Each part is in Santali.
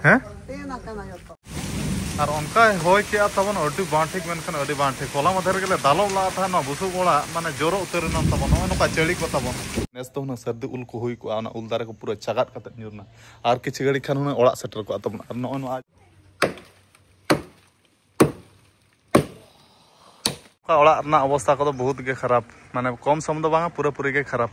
ᱦᱮᱸ ᱟᱨ ᱚᱱᱠᱟ ᱦᱚᱭ ᱠᱮᱜᱼᱟ ᱛᱟᱵᱚᱱ ᱟᱹᱰᱤ ᱵᱟᱝ ᱴᱷᱤᱠ ᱢᱮᱱᱠᱷᱟᱱ ᱟᱹᱰᱤ ᱵᱟᱝ ᱴᱷᱤᱠ ᱦᱚᱞᱟ ᱢᱟᱫᱷᱮᱨ ᱜᱮᱞᱮ ᱫᱟᱞᱚᱵ ᱞᱟᱜᱼᱟ ᱛᱟᱦᱮᱸ ᱱᱚᱣᱟ ᱵᱩᱥᱩᱵ ᱚᱲᱟᱜ ᱢᱟᱱᱮ ᱡᱚᱨᱚ ᱩᱛᱟᱹᱨ ᱮᱱᱟ ᱛᱟᱵᱚᱱ ᱱᱚᱜᱼᱚ ᱱᱚᱝᱠᱟ ᱪᱟᱹᱲᱤ ᱠᱚ ᱛᱟᱵᱚᱱ ᱱᱮᱥ ᱫᱚ ᱦᱩᱱᱟᱹᱝ ᱥᱟᱹᱨᱫᱤ ᱩᱞ ᱠᱚ ᱦᱩᱭ ᱠᱚᱜᱼᱟ ᱚᱱᱟ ᱩᱞ ᱫᱟᱨᱮ ᱠᱚ ᱯᱩᱨᱟᱹ ᱪᱟᱜᱟᱫ ᱠᱟᱛᱮ ᱧᱩᱨ ᱮᱱᱟ ᱟᱨ ᱠᱤᱪᱷᱩ ᱜᱷᱟᱹᱲᱤᱡ ᱠᱷᱟᱱ ᱦᱩᱱᱟᱹᱝ ᱚᱲᱟᱜ ᱥᱮᱴᱮᱨ ᱠᱚᱜᱼᱟ ᱛᱟᱵᱚᱱ ᱟᱨ ᱱᱚᱜᱼᱚ ᱱᱚᱣᱟ ᱚᱲᱟᱜ ᱨᱮᱱᱟᱜ ᱚᱵᱚᱥᱛᱟ ᱠᱚᱫᱚ ᱵᱚᱦᱩᱛ ᱜᱮ ᱠᱷᱟᱨᱟᱯ ᱢᱟᱱᱮ ᱠᱚᱢ ᱥᱚᱢ ᱫᱚ ᱵᱟᱝᱟ ᱯᱩᱨᱟᱹ ᱯᱩᱨᱤ ᱜᱮ ᱠᱷᱟᱨᱟᱯ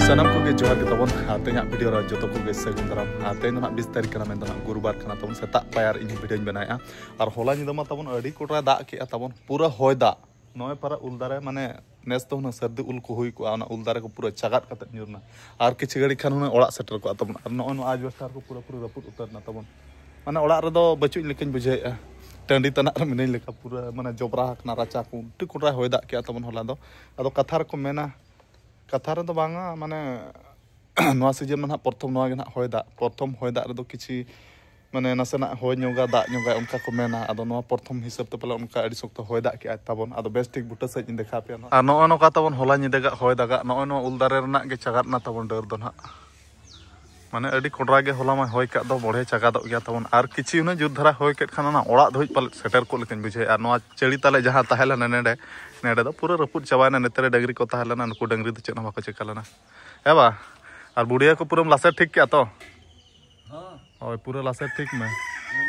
ᱥᱟᱱᱟᱢ ᱠᱚᱜᱮ ᱡᱚᱦᱟᱨ ᱜᱮ ᱛᱟᱵᱚᱱ ᱟᱨ ᱛᱮᱦᱮᱧᱟᱜ ᱵᱷᱤᱰᱤᱭᱳ ᱨᱮ ᱡᱚᱛᱚ ᱠᱚᱜᱮ ᱥᱟᱹᱜᱩᱱ ᱫᱟᱨᱟᱢ ᱟᱨ ᱛᱮᱦᱮᱧ ᱫᱚ ᱦᱟᱸᱜ ᱵᱤᱥ ᱛᱟᱹᱨᱤᱠᱷ ᱠᱟᱱᱟ ᱢᱮᱱᱫᱚ ᱦᱟᱸᱜ ᱜᱩᱨᱩᱵᱟᱨ ᱠᱟᱱᱟ ᱛᱟᱵᱚᱱ ᱥᱮᱛᱟᱜ ᱯᱟᱭᱟᱨ ᱤᱧ ᱵᱷᱤᱰᱤᱭᱳᱧ ᱵᱮᱱᱟᱣᱮᱜᱼᱟ ᱟᱨ ᱦᱚᱞᱟ ᱧᱤᱫᱟᱹ ᱢᱟ ᱛᱟᱵᱚᱱ ᱟᱹᱰᱤ ᱠᱚᱴᱨᱟᱭ ᱫᱟᱜ ᱠᱮᱜᱼᱟ ᱛᱟᱵᱚᱱ ᱯᱩᱨᱟᱹ ᱦᱚᱭ ᱫᱟᱜ ᱱᱚᱜᱼᱚᱭ ᱯᱟᱨᱟ ᱩᱞ ᱫᱟᱨᱮ ᱢᱟᱱᱮ ᱱᱮᱥ ᱫᱚ ᱦᱩᱱᱟᱹᱝ ᱥᱟᱹᱨᱫᱤ ᱩᱞ ᱠᱚ ᱦᱩᱭ ᱠᱚᱜᱼᱟ ᱚᱱᱟ ᱩᱞ ᱫᱟᱨᱮ ᱠᱚ ᱯᱩᱨᱟᱹ ᱪᱟᱜᱟᱫ ᱠᱟᱛᱮ ᱧᱩᱨᱱᱟ ᱟᱨ ᱠᱤᱪᱷᱩ ᱜᱷᱟᱹᱲᱤᱡ ᱠᱷᱟᱱ ᱦᱩᱱᱟᱹᱝ ᱚᱲᱟᱜ ᱥᱮᱴᱮᱨ ᱠᱚᱜᱼᱟ ᱛᱟᱵᱚᱱ ᱟᱨ ᱱᱚᱜᱼᱚᱭ ᱱᱚᱣᱟ ᱟᱡᱵᱮᱥᱴᱟᱨ ᱠᱚ ᱯᱩᱨᱟᱹ ᱯᱩᱨᱟᱹ ᱨᱟᱹᱯᱩᱫ ᱩᱛᱟᱹᱨᱱᱟ ᱛᱟᱵᱚᱱ ᱢᱟᱱᱮ ᱚᱲᱟᱜ ᱨᱮᱫᱚ ᱵᱟᱹᱪᱩᱜ ᱞᱮᱠᱟᱧ ᱵᱩᱡᱷᱟᱹᱣᱮᱫᱼᱟ ᱴᱟᱺᱰᱤ ᱛᱟᱱᱟᱜ ᱨᱮ ᱢᱤᱱᱟᱹᱧ ᱞᱮᱠᱟ ᱯᱩᱨᱟᱹ ᱢᱟᱱᱮ ᱡᱚᱵᱽᱨᱟ ᱟᱠᱟᱱᱟ ᱨᱟᱪᱟ ᱠᱚ ᱩᱞᱴᱟᱹ ᱠᱚᱰᱨᱟ ᱦᱚᱭ ᱫᱟᱜ ᱠᱮᱜᱼᱟ ᱛᱟᱵᱚᱱ ᱦᱚᱞᱟ ᱫᱚ ᱟᱫᱚ ᱠᱟᱛᱷᱟ ᱨᱮᱠᱚ ᱢᱮᱱᱟ ᱠᱟᱛᱷᱟ ᱨᱮᱫᱚ ᱵᱟᱝᱟ ᱢᱟᱱᱮ ᱱᱚᱣᱟ ᱥᱤᱡᱤᱱ ᱢᱟ ᱱᱟᱦᱟᱜ ᱯᱨᱚᱛᱷᱚᱢ ᱱᱚᱣᱟ ᱜᱮ ᱱᱟᱦᱟᱜ ᱦᱚᱭ ᱫᱟᱜ ᱯᱨᱚᱛᱷᱚᱢ ᱦᱚᱭ ᱫᱟᱜ ᱨᱮᱫᱚ ᱠᱤᱪᱷᱤ ᱢᱟᱱᱮ ᱱᱟᱥᱮᱱᱟᱜ ᱦᱚᱭ ᱧᱚᱜᱟ ᱫᱟᱜ ᱧᱚᱜᱟ ᱚᱱᱠᱟ ᱠᱚ ᱢᱮᱱᱟ ᱟᱫᱚ ᱱᱚᱣᱟ ᱯᱨᱚᱛᱷᱚᱢ ᱦᱤᱥᱟᱹᱵ ᱛᱮ ᱯᱟᱞᱮ ᱚᱱᱠᱟ ᱟᱹᱰᱤ ᱥᱚᱠᱛᱚ ᱦᱚᱭ ᱫᱟᱜ ᱠᱮᱜᱼᱟᱭ ᱛᱟᱵᱚᱱ ᱟᱫᱚ ᱵᱮᱥ ᱴᱷᱤᱠ ᱵᱩᱴᱟᱹ ᱥᱟᱺᱦᱤᱡ ᱤᱧ ᱫᱮᱠᱷᱟᱣ ᱯᱮᱭᱟ ᱟᱨ ᱱᱚᱜᱼᱚ ᱱᱚᱝᱠᱟ ᱛᱟᱵᱚᱱ ᱦᱚᱞᱟ ᱧᱤᱫᱟᱹ ᱜᱟᱜ ᱦᱚᱭ ᱫᱟᱜᱟᱜ ᱱᱚᱜᱼᱚᱭ ᱱᱚᱣᱟ ᱩᱞ ᱫᱟᱨᱮ ᱨᱮᱱᱟᱜ ᱜᱮ ᱪᱟᱜᱟᱫ ᱮᱱᱟ ᱛᱟᱵᱚᱱ ᱰᱟᱹᱨ ᱫᱚ ᱱᱟᱦᱟᱜ ᱢᱟᱱᱮ ᱟᱹᱰᱤ ᱠᱚᱰᱨᱟ ᱜᱮ ᱦᱚᱞᱟ ᱢᱟ ᱦᱚᱭ ᱠᱟᱜ ᱫᱚ ᱵᱚᱲᱦᱮ ᱪᱟᱜᱟᱫᱚᱜ ᱜᱮᱭᱟ ᱛᱟᱵᱚᱱ ᱟᱨ ᱠᱤᱪᱷᱤ ᱩᱱᱟᱹᱜ ᱡᱩᱛ ᱫᱷᱟᱨᱟ ᱦᱚᱭ ᱠᱮᱫ ᱠᱷᱟᱱ ᱚᱱᱟ ᱚᱲᱟᱜ ᱫᱷᱟᱹᱵᱤᱡ ᱯᱟᱞᱮ ᱥᱮᱴᱮᱨ ᱠᱚᱜ ᱞᱮᱠᱟᱧ ᱵᱩᱡᱷᱟᱹᱣᱮᱫᱼᱟ ᱟᱨ ᱱᱚᱣᱟ ᱪᱟᱹᱲᱤ ᱛᱟᱞᱮ ᱡᱟᱦᱟᱸ ᱛᱟᱦᱮᱸ ᱞᱮᱱᱟ ᱱᱮᱰᱮ ᱱᱮᱰᱮ ᱫᱚ ᱯᱩᱨᱟᱹ ᱨᱟᱹᱯᱩᱫ ᱪᱟᱵᱟᱭᱮᱱᱟ ᱱᱮᱛᱟᱨ ᱰᱟᱹᱝᱨᱤ ᱠᱚ ᱛᱟᱦᱮᱸ ᱞᱮᱱᱟ ᱱᱩᱠᱩ ᱰᱟᱹᱝᱨᱤ ᱫᱚ ᱪᱮᱫ ᱦᱚᱸ ᱵᱟᱠᱚ ᱪᱮᱠᱟ ᱞᱮᱱᱟ ᱦᱮᱸ ᱵᱟ ᱟᱨ ᱵᱩᱰᱷᱤᱭᱟᱹ ᱠᱚ ᱯᱩᱨᱟᱹᱢ ᱞᱟᱥᱮᱨ ᱴᱷᱤᱠ ᱠᱮᱜᱼᱟ ᱛᱚ ᱦᱳᱭ ᱯᱩᱨᱟᱹ ᱞᱟᱥᱮᱨ ᱴᱷᱤᱠ ᱢᱮ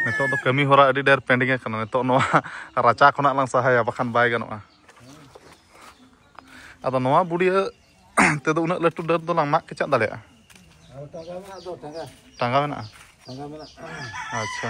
ᱱᱤᱛᱚᱜ ᱫᱚ ᱠᱟᱹᱢᱤ ᱦᱚᱨᱟ ᱟᱹᱰᱤ ᱰᱷᱮᱨ ᱯᱮᱱᱰᱤᱝ ᱟᱠᱟᱱᱟ ᱱᱤᱛᱚᱜ ᱱᱚᱣᱟ ᱨᱟᱪᱟ ᱠᱷᱚᱱᱟᱜ ᱞᱟᱝ ᱥᱟᱦᱟᱭᱟ ᱵᱟᱠᱷᱟᱱ ᱵᱟᱭ ᱜᱟᱱᱚᱜᱼᱟ ᱟᱫᱚ ᱱᱚᱣᱟ ᱵᱩᱰᱤᱭᱟᱹ ᱛᱮᱫᱚ ᱩᱱᱟᱹᱜ ᱞᱟᱹᱴᱩ ᱰᱟᱹᱨ ᱫᱚ ᱞᱟᱝ ᱢᱟᱜ ᱠᱮᱪᱟᱜ ᱫᱟᱲᱮᱭᱟᱜᱼᱟ ᱴᱟᱸᱜᱟ ᱢᱮᱱᱟᱜᱼᱟ ᱟᱪᱪᱷᱟ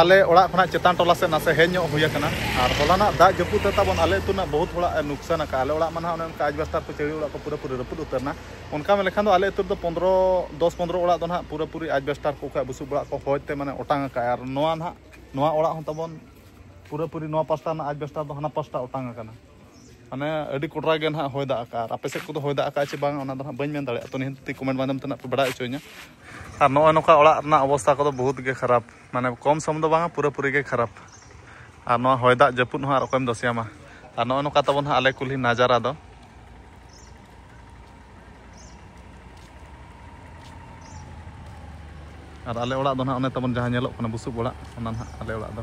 ᱟᱞᱮ ᱚᱲᱟᱜ ᱠᱷᱚᱱᱟᱜ ᱪᱮᱛᱟᱱ ᱴᱚᱞᱟ ᱥᱮᱫ ᱱᱟᱥᱮ ᱦᱮᱡ ᱧᱚᱜ ᱦᱩᱭ ᱟᱠᱟᱱᱟ ᱟᱨ ᱦᱚᱞᱟᱱᱟᱜ ᱫᱟᱜ ᱡᱟᱹᱯᱩᱫ ᱛᱮ ᱛᱟᱵᱚᱱ ᱟᱞᱮ ᱟᱹᱛᱩ ᱨᱮᱱᱟᱜ ᱵᱚᱦᱩᱛ ᱦᱚᱲᱟᱜ ᱱᱩᱠᱥᱟᱱ ᱟᱠᱟᱫᱼᱟ ᱟᱞᱮ ᱚᱲᱟᱜ ᱢᱟ ᱱᱟᱦᱟᱜ ᱚᱱᱮ ᱚᱱᱠᱟ ᱟᱡᱽᱵᱟᱥᱛᱟᱨ ᱠᱚ ᱪᱟᱹᱲᱤ ᱚᱲᱟᱜ ᱠᱚ ᱯᱩᱨᱟᱹ ᱯᱩᱨᱤ ᱨᱟᱹᱯᱩᱫ ᱩᱛᱟᱹᱨᱱᱟ ᱚᱱᱠᱟ ᱢᱮᱱ ᱞᱮᱠᱷᱟᱱ ᱫᱚ ᱟᱞᱮ ᱟᱹᱛᱩ ᱨᱮᱫᱚ ᱯᱚᱱᱫᱨᱚ ᱫᱚᱥ ᱯᱚᱱᱫᱨᱚ ᱚᱲᱟᱜ ᱫᱚ ᱱᱟᱦᱟᱜ ᱯᱩᱨᱟᱹ ᱯᱩᱨᱤ ᱟᱡᱽᱵᱟᱥᱛᱟᱨ ᱠᱚ ᱠᱷᱚᱱ ᱵᱩᱥᱩᱵ ᱚᱲᱟᱜ ᱠᱚ ᱦᱚᱭᱛᱮ ᱢᱟᱱᱮ ᱚᱴᱟᱝ ᱟᱠᱟᱫᱼᱟ ᱟᱨ ᱱᱚᱣᱟ ᱱᱟᱦᱟᱜ ᱱᱚᱣᱟ ᱚᱲᱟᱜ ᱦᱚᱸ ᱛᱟᱵᱚᱱ ᱯᱩᱨᱟᱹ ᱯᱩᱨᱤ ᱱᱚᱣᱟ ᱯᱟᱥᱴᱟ ᱨᱮᱱᱟᱜ ᱟᱡᱽᱵᱟᱥᱛᱟᱨ ᱫᱚ ᱦᱟᱱᱟ ᱯᱟᱥᱴᱟ ᱚᱴᱟᱝ ᱟᱠᱟᱱᱟ ᱢᱟᱱᱮ ᱟᱹᱰᱤ ᱠᱚᱰᱨᱟ ᱜᱮ ᱱᱟᱦᱟᱜ ᱦᱚᱭ ᱫᱟᱜ ᱟᱠᱟᱫᱼᱟ ᱟᱨ ᱟᱯᱮ ᱥᱮᱫ ᱠᱚᱫᱚ ᱦᱚᱭ ᱫᱟᱜ ᱟᱠᱟᱫᱼᱟ ᱪᱮ ᱵᱟᱝ ᱚᱱᱟ ᱫᱚ ᱱᱟᱦᱟᱜ ᱵᱟᱹᱧ ᱢᱮᱱ ᱫᱟᱲᱮᱭᱟᱜᱼᱟ ᱛᱚ ᱱᱤᱦᱟᱹᱛ ᱛᱮ ᱠᱚᱢᱮᱱᱴ ᱢᱟᱫᱽᱫᱷᱚᱢ ᱛᱮ ᱱᱟᱦᱟᱜ ᱯᱮ ᱵᱟᱰᱟᱭ ᱦᱚᱪᱚᱧᱟ ᱟᱨ ᱱᱚᱜᱼᱚᱭ ᱱᱚᱝᱠᱟ ᱚᱲᱟᱜ ᱨᱮᱱᱟᱜ ᱚᱵᱚᱥᱛᱟ ᱠᱚᱫᱚ ᱵᱚᱦᱩᱛ ᱜᱮ ᱠᱷᱟᱨᱟᱯ ᱢᱟᱱᱮ ᱠᱚᱢ ᱥᱚᱢ ᱫᱚ ᱵᱟᱝᱟ ᱯᱩᱨᱟᱹ ᱯᱩᱨᱤ ᱜᱮ ᱠᱷᱟᱨᱟᱯ ᱟᱨ ᱱᱚᱣᱟ ᱦᱚᱭ ᱫᱟᱜ ᱡᱟᱹᱯᱩᱫ ᱦᱚᱸ ᱟᱨ ᱚᱠᱚᱭᱮᱢ ᱫᱚᱥᱮᱭᱟᱢᱟ ᱟᱨ ᱱᱚᱜᱼᱚᱭ ᱱᱚᱝᱠᱟ ᱛᱟᱵᱚᱱ ᱦᱟᱸᱜ ᱟᱞᱮ ᱠᱩᱞᱦᱤ ᱱᱟᱡᱟᱨᱟ ᱫᱚ ᱟᱨ ᱟᱞᱮ ᱚᱲᱟᱜ ᱫᱚ ᱱᱟᱦᱟᱜ ᱚᱱᱮ ᱛᱟᱵᱚᱱ ᱡᱟᱦᱟᱸ ᱧᱮᱞᱚᱜ ᱠᱟᱱᱟ ᱵᱩᱥᱩᱵ ᱚᱲᱟᱜ ᱚᱱᱟ ᱱᱟᱦᱟᱜ ᱟᱞᱮ ᱚᱲᱟᱜ ᱫᱚ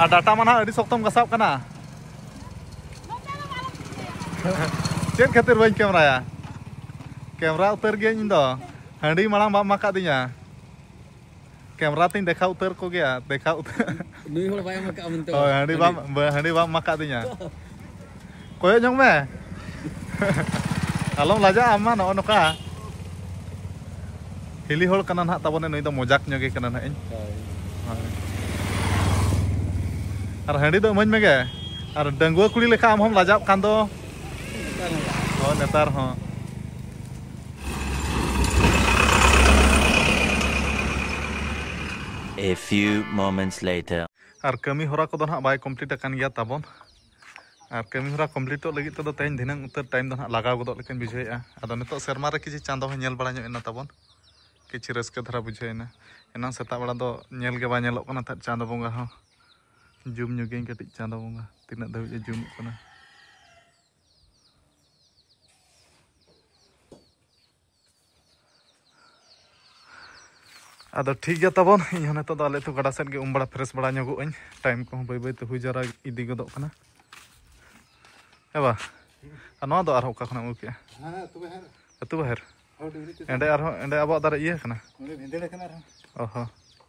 ᱟᱨ ᱰᱟᱴᱟ ᱢᱟ ᱱᱟᱦᱟᱜ ᱟᱹᱰᱤ ᱥᱚᱠᱛᱚᱢ ᱜᱟᱥᱟᱣ ᱠᱟᱱᱟ ᱪᱮᱫ ᱠᱷᱟᱹᱛᱤᱨ ᱵᱟᱹᱧ ᱠᱮᱢᱨᱟᱭᱟ ᱠᱮᱢᱨᱟ ᱩᱛᱟᱹᱨ ᱜᱮ ᱤᱧ ᱫᱚ ᱦᱟᱺᱰᱤ ᱢᱟᱲᱟᱝ ᱵᱟᱢ ᱢᱟᱠᱟ ᱫᱤᱧᱟ ᱠᱮᱢᱨᱟ ᱛᱤᱧ ᱫᱮᱠᱷᱟ ᱩᱛᱟᱹᱨ ᱠᱚ ᱜᱮᱭᱟ ᱫᱮᱠᱷᱟ ᱩᱛᱟᱹᱨ ᱱᱩᱭ ᱦᱚᱲ ᱵᱟᱭ ᱢᱟᱠᱟ ᱢᱮᱱᱛᱮ ᱦᱟᱺᱰᱤ ᱵᱟᱢ ᱦᱟᱺᱰᱤ ᱵᱟᱢ ᱢᱟᱠᱟ ᱫᱤᱧᱟ ᱠᱚᱭᱚᱜ ᱧᱚᱜ ᱢᱮ ᱟᱞᱚᱢ ᱞᱟᱡᱟᱜᱼᱟ ᱟᱢ ᱢᱟ ᱱᱚᱜᱼᱚ ᱱᱚᱝᱠᱟ ᱦᱤᱞᱤ ᱦᱚᱲ ᱠᱟᱱᱟ ᱱᱟᱦᱟᱜ ᱛᱟᱵᱚᱱᱮ ᱱᱩᱭ ᱫᱚ ᱢᱚᱡᱟᱠ ᱧᱚᱜᱮ ᱠᱟᱱᱟ ᱱᱟᱦᱟᱜ ᱤᱧ ᱟᱨ ᱦᱟᱺᱰᱤ ᱫᱚ ᱤᱢᱟᱹᱧ ᱢᱮᱜᱮ ᱟᱨ ᱰᱟᱺᱜᱩᱣᱟᱹ ᱠᱩᱲᱤ ᱞᱮᱠᱟ ᱟᱢ ᱦᱚᱢ ᱞᱟᱡᱟᱜ ᱠᱟᱱ ᱫᱚ ᱦᱳᱭ ᱱᱮᱛᱟᱨ ᱦᱚᱸ A few moments later. ᱟᱨ ᱠᱟᱹᱢᱤ ᱦᱚᱨᱟ ᱠᱚᱫᱚ ᱱᱟᱦᱟᱜ ᱵᱟᱭ ᱠᱚᱢᱯᱞᱤᱴ ᱟᱠᱟᱱ ᱜᱮᱭᱟ ᱛᱟᱵᱚᱱ ᱟᱨ ᱠᱟᱹᱢᱤ ᱦᱚᱨᱟ ᱠᱚᱢᱯᱞᱤᱴᱚᱜ ᱞᱟᱹᱜᱤᱫ ᱛᱮᱫᱚ ᱛᱮᱦᱮᱧ ᱫᱷᱤᱱᱟᱹᱝ ᱩᱛᱟᱹᱨ ᱴᱟᱭᱤᱢ ᱫᱚ ᱱᱟᱜ ᱞᱟᱜᱟᱣ ᱜᱚᱫᱚᱜ ᱞᱮᱠᱟᱧ ᱵᱩᱡᱷᱟᱹᱣᱮᱫᱼᱟ ᱟᱫᱚ ᱱᱤᱛᱚᱜ ᱥᱮᱨᱢᱟ ᱨᱮ ᱠᱤᱪᱷᱩ ᱪᱟᱸᱫᱚ ᱦᱚᱸ ᱧᱮᱞ ᱵᱟᱲᱟ ᱧᱚᱜ ᱮᱱᱟ ᱛᱟᱵᱚᱱ ᱠᱤᱪᱷᱩ ᱨᱟᱹᱥᱠᱟᱹ ᱫᱷᱟᱨᱟ ᱵᱩᱡᱷᱟᱹᱣᱮᱱᱟ ᱮᱱᱟᱝ ᱥᱮᱛᱟᱜ ᱵᱮᱲᱟ ᱫᱚ ᱧᱮᱞ ᱜᱮ ᱵᱟᱭ ᱧᱮᱞᱚᱜ ᱠᱟᱱᱟ ᱛᱟᱦᱮᱸᱫ ᱪᱟᱸᱫᱚ ᱵᱚᱸᱜᱟ ᱦᱚᱸ ᱡᱩᱢ ᱧᱚᱜᱤᱧ ᱠᱟᱹᱴᱤᱡ ᱪᱟᱸᱫᱚ ᱵᱚᱸᱜᱟ ᱛᱤᱱᱟᱹᱜ ᱫᱷᱟᱹᱵᱤᱡ ᱮ ᱡᱩᱢᱚᱜ ᱠᱟᱱᱟ ᱟᱫᱚ ᱴᱷᱤᱠ ᱜᱮᱭᱟ ᱛᱟᱵᱚᱱ ᱤᱧ ᱦᱚᱸ ᱱᱤᱛᱚᱜ ᱫᱚ ᱟᱞᱮ ᱟᱹᱛᱩ ᱜᱟᱰᱟ ᱥᱮᱫ ᱜᱮ ᱩᱢ ᱵᱟᱲᱟ ᱯᱷᱨᱮᱥ ᱵᱟᱲᱟ ᱧᱚᱜᱚᱜ ᱟᱹᱧ ᱴᱟᱭᱤᱢ ᱠᱚᱦᱚᱸ ᱵᱟᱹᱭ ᱵᱟᱹᱭᱛᱮ ᱦᱩᱭ ᱡᱟᱣᱨᱟ ᱤᱫᱤ ᱜᱚᱫᱚᱜ ᱠᱟᱱᱟ ᱦᱮᱸ ᱵᱟ ᱟᱨ ᱱᱚᱣᱟ ᱫᱚ ᱟᱨᱦᱚᱸ ᱚᱠᱟ ᱠᱷᱚᱱᱮᱢ ᱟᱹᱜᱩ ᱠᱮᱜᱼᱟ ᱟᱹᱛᱩ ᱵᱟᱦᱮᱨ ᱮᱸᱰᱮ ᱟᱨᱦᱚᱸ ᱮᱸᱰᱮ ᱟᱵᱚᱣᱟᱜ ᱫᱟᱨᱮ ᱤᱭᱟᱹ ᱠᱟᱱᱟ ᱚ ᱦᱚᱸ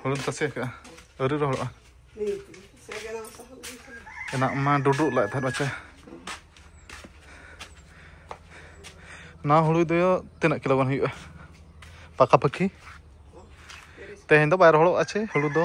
ᱦᱩᱲᱩ ᱛᱟᱥᱮ ᱟᱠᱟᱫᱼᱟ ᱟᱹᱣᱨᱤ ᱨᱚᱦᱚᱲᱚᱜᱼᱟ ᱮᱱᱟᱜ ᱢᱟ ᱰᱩᱰᱨᱩᱜ ᱞᱟᱜ ᱛᱟᱦᱮᱸᱫ ᱵᱟᱪᱟ ᱱᱚᱣᱟ ᱦᱩᱲᱩ ᱫᱚ ᱛᱤᱱᱟᱹᱜ ᱠᱤᱞᱳ ᱜᱟᱱ ᱦᱩᱭᱩᱜᱼᱟ ᱯᱟᱠᱟᱯᱟᱠᱤ ᱛᱮᱦᱮᱧ ᱫᱚ ᱵᱟᱭ ᱨᱚᱦᱚᱲᱚᱜᱼᱟ ᱪᱮ ᱦᱩᱲᱩ ᱫᱚ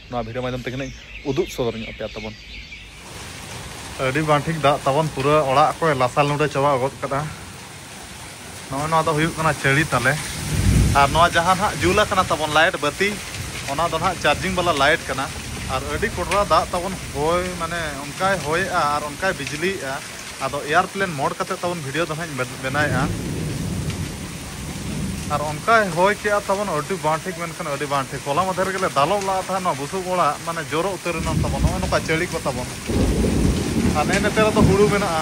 ᱱᱚᱣᱟ ᱵᱷᱤᱰᱤᱭᱳ ᱢᱟᱫᱽᱫᱷᱚᱢ ᱛᱮᱜᱮ ᱱᱟᱜ ᱩᱫᱩᱜ ᱥᱚᱫᱚᱨ ᱧᱚᱜ ᱟᱯᱮᱭᱟ ᱛᱟᱵᱚᱱ ᱟᱹᱰᱤ ᱵᱟᱝ ᱴᱷᱤᱠ ᱫᱟᱜ ᱛᱟᱵᱚᱱ ᱯᱩᱨᱟᱹ ᱚᱲᱟᱜ ᱠᱚᱭ ᱞᱟᱥᱟᱞ ᱱᱩᱰᱟᱹ ᱪᱟᱵᱟ ᱜᱚᱫ ᱠᱟᱫᱟ ᱱᱚᱜᱼᱚᱭ ᱱᱚᱣᱟ ᱫᱚ ᱦᱩᱭᱩᱜ ᱠᱟᱱᱟ ᱪᱟᱹᱲᱤ ᱛᱟᱞᱮ ᱟᱨ ᱱᱚᱣᱟ ᱡᱟᱦᱟᱸ ᱱᱟᱜ ᱡᱩᱞ ᱟᱠᱟᱱᱟ ᱛᱟᱵᱚᱱ ᱞᱟᱭᱤᱴ ᱵᱟᱹᱛᱤ ᱚᱱᱟ ᱫᱚ ᱱᱟᱜ ᱪᱟᱨᱡᱤᱝ ᱵᱟᱞᱟ ᱞᱟᱭᱤᱴ ᱠᱟᱱᱟ ᱟᱨ ᱟᱹᱰᱤ ᱠᱚᱰᱨᱟ ᱫᱟᱜ ᱛᱟᱵᱚᱱ ᱦᱚᱭ ᱢᱟᱱᱮ ᱚᱱᱠᱟᱭ ᱦᱚᱭᱮᱜᱼᱟ ᱟᱨ ᱚᱱᱠᱟᱭ ᱵᱤᱡᱽᱞᱤᱭᱮᱜᱼᱟ ᱟᱫᱚ ᱮᱭᱟᱨᱯᱞᱮᱱ ᱢᱳᱰ ᱠᱟᱛᱮ ᱛᱟᱵᱚᱱ ᱵᱷᱤᱰᱤᱭᱳ ᱫᱚ ᱦᱟᱸᱜ ᱤᱧ ᱵᱮᱱᱟᱣᱮᱫᱼᱟ ᱟᱨ ᱚᱱᱠᱟᱭ ᱦᱚᱭ ᱠᱮᱜᱼᱟ ᱛᱟᱵᱚᱱ ᱟᱹᱰᱤ ᱵᱟᱝ ᱴᱷᱤᱠ ᱢᱮᱱᱠᱷᱟᱱ ᱟᱹᱰᱤ ᱵᱟᱝ ᱴᱷᱤᱠ ᱦᱚᱞᱟ ᱢᱟᱫᱷᱮᱨ ᱨᱮᱜᱮ ᱞᱮ ᱫᱟᱞᱚᱵ ᱞᱟᱜᱼᱟ ᱛᱟᱦᱮᱸ ᱱᱚᱣᱟ ᱵᱩᱥᱩᱵ ᱚᱲᱟᱜ ᱢᱟᱱᱮ ᱡᱚᱨᱚ ᱩᱛᱟᱹᱨ ᱮᱱᱟ ᱛᱟᱵᱚᱱ ᱱᱚᱜᱼᱚᱭ ᱱᱚᱝᱠᱟ ᱪᱟᱹᱲᱤ ᱠᱚ ᱛᱟᱵᱚᱱ ᱟᱨ ᱱᱮᱜᱼᱮ ᱱᱮᱛᱟᱨ ᱫᱚ ᱦᱩᱲᱩ ᱢᱮᱱᱟᱜᱼᱟ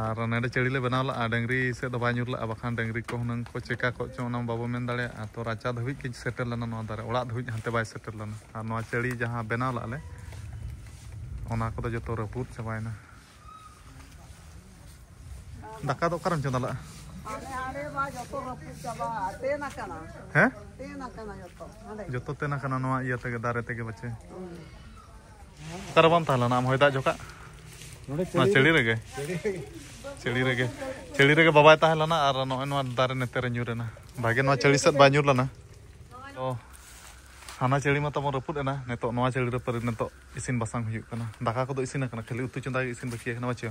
ᱟᱨ ᱱᱮᱰᱮ ᱪᱟᱹᱲᱤ ᱞᱮ ᱵᱮᱱᱟᱣ ᱞᱟᱜᱼᱟ ᱰᱟᱹᱝᱨᱤ ᱥᱮᱫ ᱫᱚ ᱵᱟᱭ ᱧᱩᱨ ᱞᱟᱜᱼᱟ ᱵᱟᱠᱷᱟᱱ ᱰᱟᱹᱝᱨᱤ ᱠᱚ ᱦᱩᱱᱟᱹᱝ ᱠᱚ ᱪᱮᱠᱟ ᱠᱚᱜ ᱪᱚ ᱚᱱᱟ ᱵᱟᱵᱚ ᱢᱮᱱ ᱫᱟᱲᱮᱭᱟᱜᱼᱟ ᱛᱚ ᱨᱟᱪᱟ ᱫᱷᱟᱹᱵᱤᱡ ᱜᱮ ᱥᱮᱴᱮᱨ ᱞᱮᱱᱟ ᱱᱚᱣᱟ ᱫᱟᱨᱮ ᱚᱲᱟᱜ ᱫᱷᱟᱹᱵᱤᱡ ᱦᱟᱱᱛᱮ ᱵᱟᱭ ᱥᱮᱴᱮᱨ ᱞᱮᱱᱟ ᱟᱨ ᱱᱚᱣᱟ ᱪᱟᱹᱲᱤ ᱡᱟᱦᱟᱸ ᱵᱮᱱᱟᱣ ᱞᱟᱜᱼᱟ ᱞᱮ ᱚᱱᱟ ᱠᱚᱫᱚ ᱡᱚᱛᱚ ᱨᱟᱹᱯᱩᱫ ᱪᱟᱵᱟᱭᱮᱱᱟ ᱫᱟᱠᱟ ᱫᱚ ᱚᱠᱟᱨᱮᱢ ᱪᱚᱸᱫᱟ ᱞᱟᱜᱼᱟ ᱦᱮᱸ ᱡᱚᱛᱚ ᱛᱮᱱ ᱟᱠᱟᱱᱟ ᱱᱚᱣᱟ ᱤᱭᱟᱹ ᱛᱮᱜᱮ ᱫᱟᱨᱮ ᱛᱮᱜᱮ ᱵᱟᱪᱮ ᱚᱠᱟᱨᱮ ᱵᱟᱢ ᱛᱟᱦᱮᱸ ᱞᱮᱱᱟ ᱟᱢ ᱦᱚᱭ ᱫᱟᱜ ᱡᱚᱠᱷᱟᱜ ᱱᱚᱰᱮ ᱱᱚᱣᱟ ᱪᱟᱹᱲᱤ ᱨᱮᱜᱮ ᱪᱟᱹᱲᱤ ᱨᱮᱜᱮ ᱪᱟᱹᱲᱤ ᱨᱮᱜᱮ ᱵᱟᱵᱟᱭ ᱛᱟᱦᱮᱸ ᱞᱮᱱᱟ ᱟᱨ ᱱᱚᱜᱼᱚᱭ ᱱᱚᱣᱟ ᱫᱟᱨᱮ ᱱᱮᱛᱮ ᱨᱮ ᱧᱩᱨ ᱮᱱᱟ ᱵᱷᱟᱜᱮ ᱱᱚᱣᱟ ᱪᱟᱹᱲᱤ ᱥᱮᱫ ᱵᱟᱭ ᱧᱩᱨ ᱞᱮᱱᱟ ᱛᱚ ᱦᱟᱱᱟ ᱪᱟᱹᱲᱤ ᱢᱟ ᱛᱟᱵᱚᱱ ᱨᱟᱹᱯᱩᱫ ᱮᱱᱟ ᱱᱤᱛᱚᱜ ᱱᱚᱣᱟ ᱪᱟᱹᱲᱤ ᱨᱮ ᱯᱟᱹᱨᱤ ᱱᱤᱛᱚᱜ ᱤᱥᱤᱱ ᱵᱟᱥᱟᱝ ᱦᱩᱭᱩᱜ ᱠᱟᱱᱟ ᱫᱟᱠᱟ ᱠᱚᱫᱚ ᱤᱥᱤᱱ ᱟᱠᱟᱱᱟ ᱠᱷᱟᱹᱞᱤ ᱩᱛᱩ ᱪᱚᱸᱫᱟ ᱜᱮ ᱤᱥᱤᱱ ᱵᱟᱹᱠᱤ ᱟᱠᱟᱱᱟ ᱵᱟᱪᱚ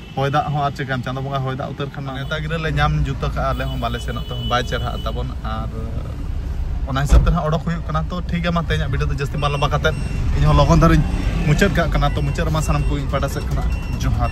ᱦᱚᱭ ᱫᱟᱜ ᱦᱚᱸ ᱟᱨ ᱪᱮᱠᱟᱱ ᱪᱟᱸᱫᱚ ᱵᱚᱸᱜᱟ ᱦᱚᱭ ᱫᱟᱜ ᱩᱛᱟᱹᱨ ᱠᱷᱟᱱ ᱱᱮᱣᱛᱟ ᱜᱤᱨᱟᱹ ᱞᱮ ᱧᱟᱢ ᱡᱩᱛ ᱟᱠᱟᱫᱼᱟ ᱟᱞᱮ ᱦᱚᱸ ᱵᱟᱞᱮ ᱥᱮᱱᱚᱜ ᱛᱮᱦᱚᱸ ᱵᱟᱭ ᱪᱮᱨᱦᱟᱜ ᱛᱟᱵᱚᱱ ᱟᱨ ᱚᱱᱟ ᱦᱤᱥᱟᱹᱵ ᱛᱮ ᱦᱟᱸᱜ ᱚᱰᱚᱠ ᱦᱩᱭᱩᱜ ᱠᱟᱱᱟ ᱛᱚ ᱴᱷᱤᱠ ᱜᱮᱭᱟ ᱢᱟ ᱛᱮᱦᱮᱧᱟᱜ ᱵᱷᱤᱰᱤᱭᱳ ᱫᱚ ᱡᱟᱹᱥᱛᱤ ᱵᱟᱝ ᱞᱚᱢᱵᱟ ᱠᱟᱛᱮᱫ ᱤᱧ ᱦᱚᱸ ᱞᱚᱜᱚᱱ ᱫᱷᱟᱨᱟᱧ ᱢᱩᱪᱟᱹᱫ ᱠᱟᱜ ᱠᱟᱱᱟ ᱛᱚ ᱢᱩᱪᱟᱹᱫ ᱨᱮᱢᱟ ᱥᱟᱱᱟᱢ ᱠᱚ ᱤᱧ ᱯᱟᱦᱴᱟ ᱥᱮᱫ ᱠᱷᱚᱱᱟᱜ ᱡᱚᱦᱟᱨ